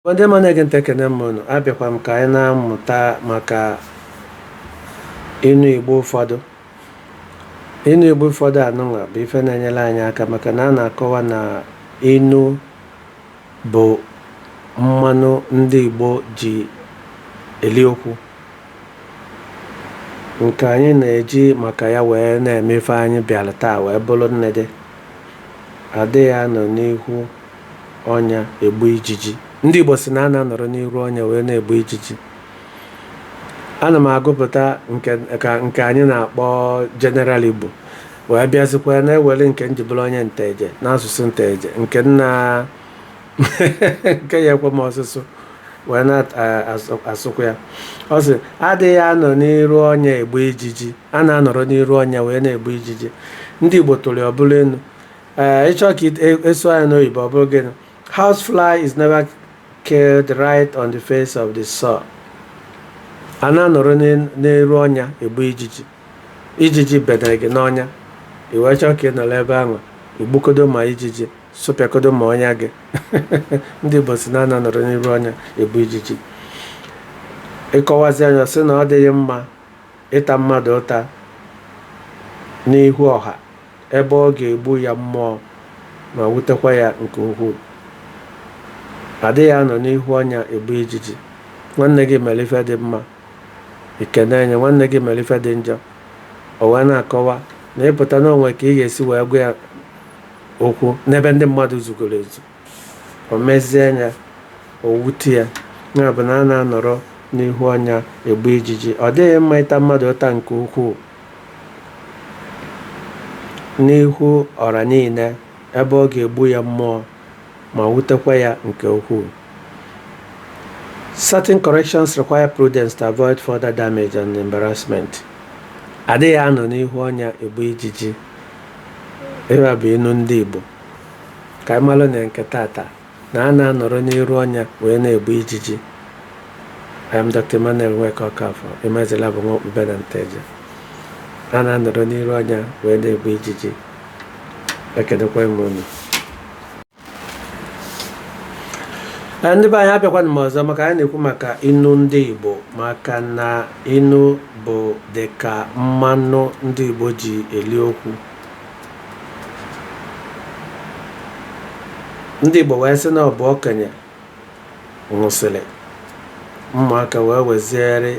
Ndị ma na-ege ntị ekene m unu abịakwa m ka anyị na-amụta maka inu Igbo ụfọdụ inu Igbo ụfọdụ anụnwa bụ ife na-enyere anyị aka maka na a na-akọwa na inu bụ mmanụ ndị Igbo ji eli okwu nke anyị na-eji maka ya wee na-eme ife anyị bịara taa wee bụrụ nnede adịghị anọ n'ihu ọnya egbu ijiji. Ndị Igbo si na a na-anọrọ n'iru ọnya wee na-egbu ijiji. Ana m agụpụta nke anyị na-akpọ General Igbo wee bịazikwa na-ewere nke m ji bụrụ onye Nteje n'asụsụ Nteje nke m nke ya-ekwe m ọsụsụ wee na-asụkwa ya. Ọ sị, adịghị anọ n'iru ọnya egbu ijiji, a na-anọrọ n'iru ọnya wee na-egbu ijiji. Ndị Igbo tụrụ ya ọ bụrụ inu. ee ị chọọ ka a sụa nya n'oyibo ọ bụrụ gịnị house fly is never killed right on the face of the sore a na-anọrọ n'iru ọnya egbu ijiji ijiji bedere gị n'ọnya i wee chọọ ka ị nọrọ ebe ahụ igbukọdo ma ijiji sụpịakodo ma ọnya gị ndị Igbo si na a na-anọrọ n'iru ọnya egbu ijiji ị kọwazia nya ọ sị na ọ dịghị mma ịta mmadụ ụta n'ihu ọha ebe ọ ga-egbu ya mmụọ ma wutekwa ya nke ukwuu adịghị anọ n'ihu ọnya egbu ijiji nwanne gị mere ife dị mma i kenee nya nwanne gị mere ife dị njọ o wee na-akọwa na ị pụta na o nwe ka ị ga-esi wee gwa ya okwu n'ebe ndị mmadụ zugoro ezu O mezie nya, o wute ya. Ya bụ na a na-anọrọ n'ihu ọnya egbu ijiji. Ọ dịghị mma ịta mmadụ ụta nke ukwuu n'ihu ọra niile ebe ọ ga-egbu ya mmụọ ma wutekwa ya nke ukwuu. Certain corrections require prudence to avoid further damage and embarrassment. Adịghị anọ n'ihu ọnya egbu ijiji. Ife a bụ inu ndị Igbo. ka anyị malụ na nke tata na a na-anọrọ n'iru ọnya wee na-egbu ijiji I am Dr. Emmanuel Nweke Okafor Emezila bụ nwa okpube na Nteje a na-anọrọ n'iru ọnya wee na-egbu ijiji ekenekwa m unu ndị be anyị abịakwanụ m ọzọ maka anyị na-ekwu maka inu ndị Igbo maka na inu bụ dịka mmanụ ndị Igbo ji eli okwu ndị Igbo wee sị na ọ bụ okenye nwụsịrị ụmụaka wee weziere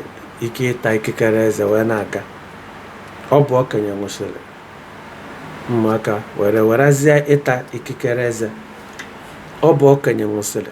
ike ịta ikikere eze wee na-aga ọ bụ okenye nwụsịrị ụmụaka wee werezie ịta ikikere eze ọ bụ okenye nwụsịrị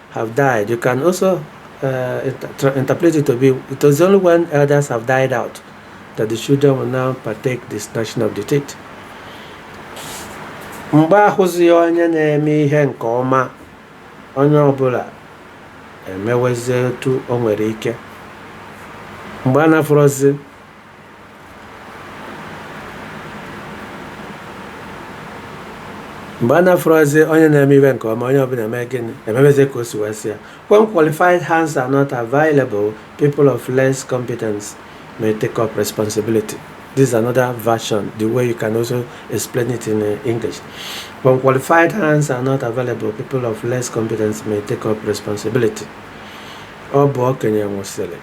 have died. You can also uh, inter interpret it to be it was only when elders have died out that the children will now partake the gnashing of the teeth. mgbe ahụzi onye na-eme ihe nke ọma onye ọbụla emewezie etu o nwere ike mgbe a na-afụrọzi mgbe a na-afụrọzi onye na-eme ife nke ọma onye ọbụla eme gịnị emebezi ka o si wee sị ya when qualified hands are not available people of less competence may take up responsibility this is another version the way you can also explain it in uh, english when qualified hands are not available people of less competence may take up responsibility ọ bụ okenye nwụsịrị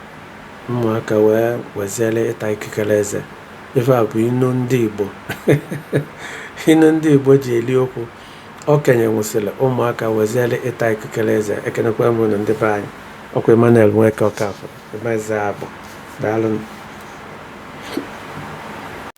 Ụmụaka wee weziere ịta ikikere eze. Ife a bụ inu ndị Igbo. Inu ndị Igbo ji eli okwu. Okenye nwụsịrị, ụmụaka weziere ịta ikikere eze. Ekenekwa m unu ndị be anyị. Ọkwa Emmanuel Nweke Ọkafọ, Emezabụ. Daalụ.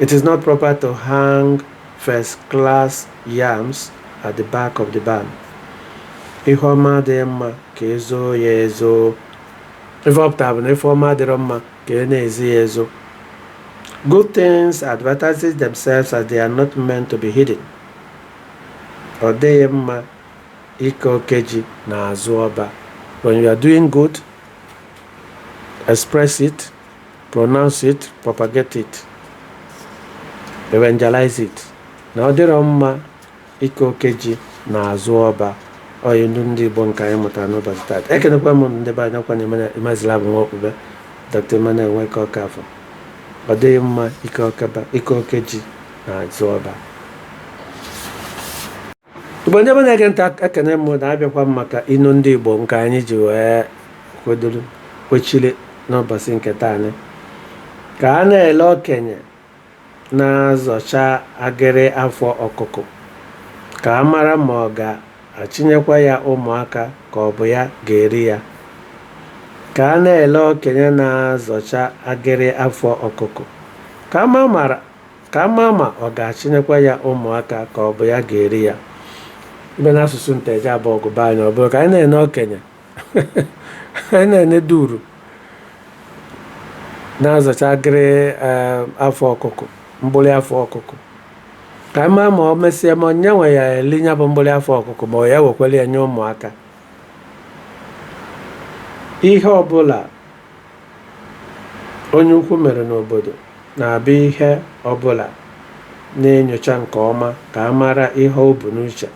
It is not proper to hang first class yams at the back of the barn. Ihe ọma adịghị mma ka e zoo ya ezo. Ife ọ pụtara bụ na ife ọma adịrọ mma ka e na-ezo ya ezo. Good things advertises themselves as they are not meant to be hidden. Ọ dịghị mma ike oke ji n'azụ ọba. When you are doing good, express it. pronounce it, propagate it, evangelize it na ọ dịrọ mma ike oke ji na azụ ọba ọ inu ndị Igbo nke anyị mụtara n'ụbọchị taata ekenekwa m ndị be anyị ọkwa na Emazila bụ nwa okpube Dr. Emmanuel Nweke Ọkafọ ọ dịghị mma ike oke ji na azụ ọba igbo ndị be na-ege ntị ekene m na abịakwa m maka inu ndị igbo nke anyị ji wee kwedoro kwechiri n'ụbọchị nke taa ka a na-ele okenye na-azọcha agịrị afọ ọkụkụ ka a mara ma ọ ga-achịnyekwa ya ụmụaka ka ọ bụ ya ga-eri ya ka a na-ele okenye na-azọcha agịrị afọ ọkụkụ ka a mara ka a maa ma ọ ga-achịnyekwa ya ụmụaka ka ọ bụ ya ga-eri ya ị bịa n'asụsụ nteje abọgụ be anyị ọ bụrụ ka anyị na-ene okenye anyị na-ene duru na-azọcha agịrị afọ ọkụkụ mgbụrị afọ ọkụkụ ka a maa ma ọ mesịa ya onwe ya eli ya bụ mgbụrị afọ ọkụkụ ma ọ ya wekwere ya nye ụmụaka ihe ọbụla onye ukwu mere n'obodo na-abụ ihe ọbụla na-enyocha nke ọma ka a mara ihe o bu n'uche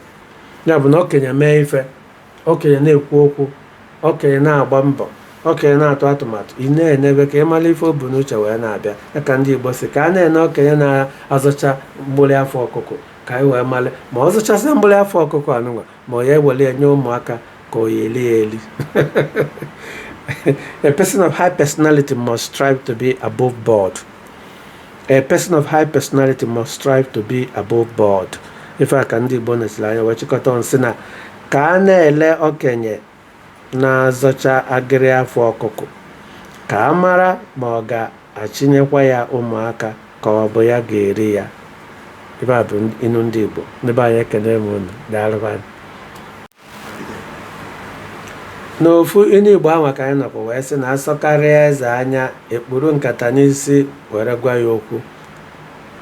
ya bụ na okenye mee ife okenye na-ekwu okwu okenye na-agba mbọ okenye na-atụ atụmatụ ị na-enebe ka ị mara ife o bu n'uche wee na-abịa ya ka ndị Igbo sị ka a na-ene okenye na-azọcha mgbụrị afọ ọkụkụ ka anyị wee mara ma ọ zọchasịa mgbụrị afọ ọkụkụ anụnwa ma ọ ya ewere ya nye ụmụaka ka ọ ya eli ya eli a person of high personality must strive to be above board a person of high personality must strive to be above board ife a ka ndị Igbo nesiri anya wee chịkọta nsị na ka a na-ele okenye na-azọcha agịrị afọ ọkụkụ ka a mara ma ọ ga-achịnyekwa ya ụmụaka ka ọ bụ ya ga-eri ya ife a bụ inu ndị Igbo ndị be anyị ekene m unu daalụkwanụ n'ofu inu Igbo ahụ ka anyị nọkwa wee sị na asọkarịa eze anya ekpuru nkata n'isi were gwa ya okwu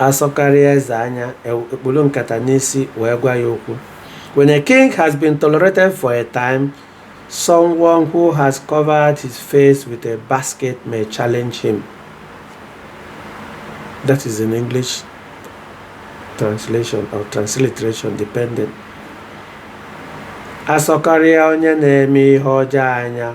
asọkarịa eze anya ekpuru nkata n'isi wee gwa ya okwu When a king has been tolerated for a time, someone who has covered his face with a basket may challenge him. That is in English translation or transliteration depending. Asọkarịa onye na-eme ihe ọjọọ anya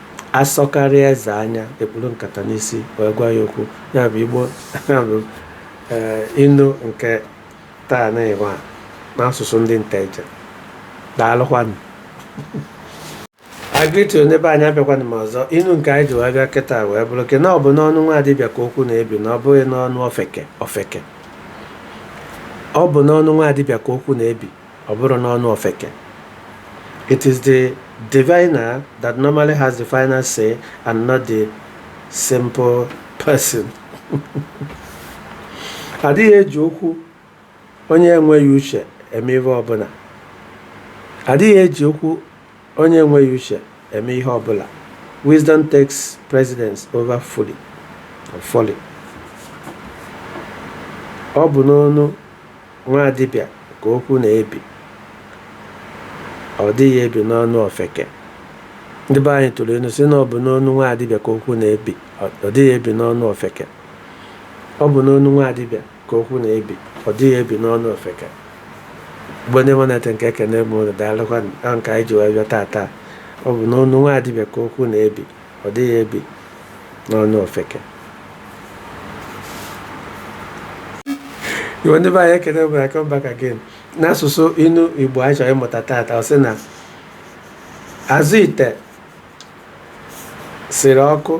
asọkarịa eze anya ekpuru nkata n'isi wee gwa ya okwu ya bụ Igbo bụ inu nke taa na ịwa n'asụsụ ndị Nteje daalụkwanụ I greet ndị be anyị abịakwana m ọzọ inu nke anyị ji wee bịa kịta wee bụrụ ke na ọ bụ n'ọnụ nwa dibịa ka okwu na-ebi na ọ bụghị n'ọnụ ofeke ọ bụ n'ọnụ nwa dibịa ka okwu na-ebi Ọ bụrọ n'ọnụ ofeke, it is the diviner that normally has the final say and not the simple person. adịghị eji okwu onye enweghị uche eme ihe ọbụla adịghị eji okwu Onye enweghị uche eme ihe ọ bụla. Wisdom takes precedence over folly. Ọ bụ n'ọnụ nwa dibịa ka okwu na-ebi. Ọ dịghị ebi n'ọnụ ofeke. Ndị be anyị tụrụ inu sị na ọ bụ n'ọnụ nwa dibịa ka okwu na-ebi. Ọ dịghị ebi n'ọnụ ofeke. Ọ bụ n'ọnụ nwa dibịa. ka okwu na-ebi ọ dịghị ebi n'ọnụ ofeke bụ onye mụ na-ete nke ekene m unu daalụkwanụ nke anyị ji wee bịa taata ọ bụ n'ọnụ nwa dibịa ka okwu na-ebi ọ dịghị ebi n'ọnụ ofeke Igbo ndị be anyị ekene m I come back again n'asụsụ inu igbo anyị chọrọ ịmụta taata ọ sị na azụ ite siri ọkụ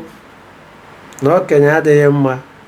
na okenye adịghị mma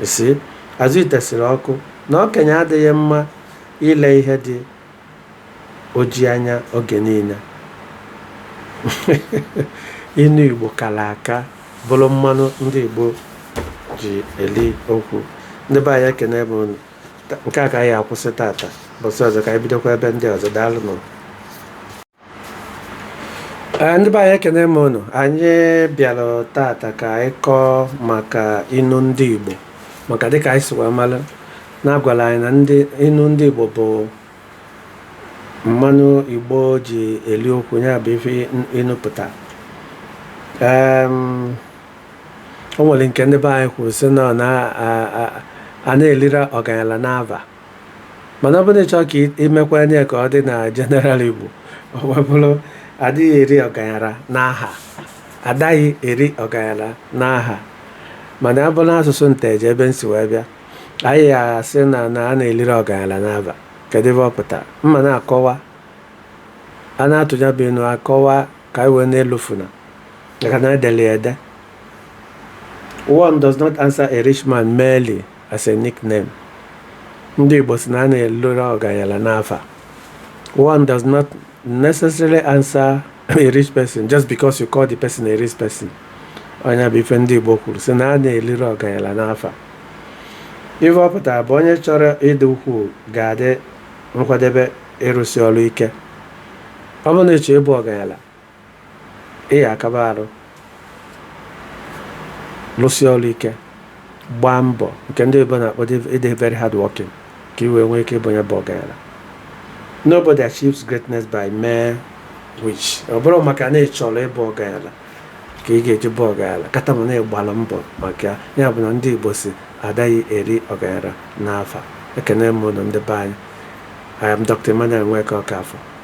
You see azụ ite siri ọkụ na okenye adịghị mma ile ihe dị oji anya oge niile inu igbo kara aka bụrụ mmanụ ndị igbo ji eli okwu ndị be anyị ekene m unu nke a ka anyị akwụsị tata ụbọsị ọzọ ka anyị bidokwa ebe ndị ọzọ daalụ nụ Eh, ndị be anyị ekene m unu anyị bịara tata ka anyị kọọ maka inu ndị Igbo maka dịka anyị si wee mara na a gwara anyị na inu ndị Igbo bụ mmanụ Igbo ji eli okwu ya bụ ife inu pụta o nwere nke ndị be anyị kwuru sị na a na-elirọ ọganyala n'ava mana ọ bụrụ na ị chọọ ka i mekwaa nya ka ọ dị na general igbo ọ wee bụrụ adịghị eri ọganyara n'aha adaghị eri ọganyara n'aha mana ọ bụrụ n'asụsụ nteje ebe m si wee bịa anyị asị na na a na-elirọ ọganyara n'ava kedu ife ọ pụtara mma na-akọwa a na-atụ nya bụ inu akọwa ka anyị wee na-elufuna maka na edere ya ede one does not answer a rich man merely as a nickname. Ndị Igbo si na a na-elirọ ọganyala n'afa. One does not necessarily answer a rich person just because you call the person a rich person. Ọ nya bụ ife ndị Igbo kwuru si na a na-elirọ ọganyala n'afa. Ife ọ pụtara bụ onye chọrọ ịdị ukwuu ga-adị nkwadebe ịrụsi ọrụ ike. Ọ bụrụ na ị chọọ ịbụ ọganyala, ị ya akaba arụ lụsie ọrụ ike gbaa mbọ nke ndị oyibo na-akpọ ịdị very hard working ka i wee nwee ike ịbụ onye bụ ọgaranya nobody achieves greatness by mere wish ọ bụrọ maka na ị chọrọ ịbụ ọgaranya ka ị ga-eji bụ ọgaranya kata ma na ị gbalụ mbọ maka ya bụ na ndị igbo si adaghị eri ọgaranya n'afa ekene m unu ndị be anyị I am Dr. Emmanuel Nweke Okafor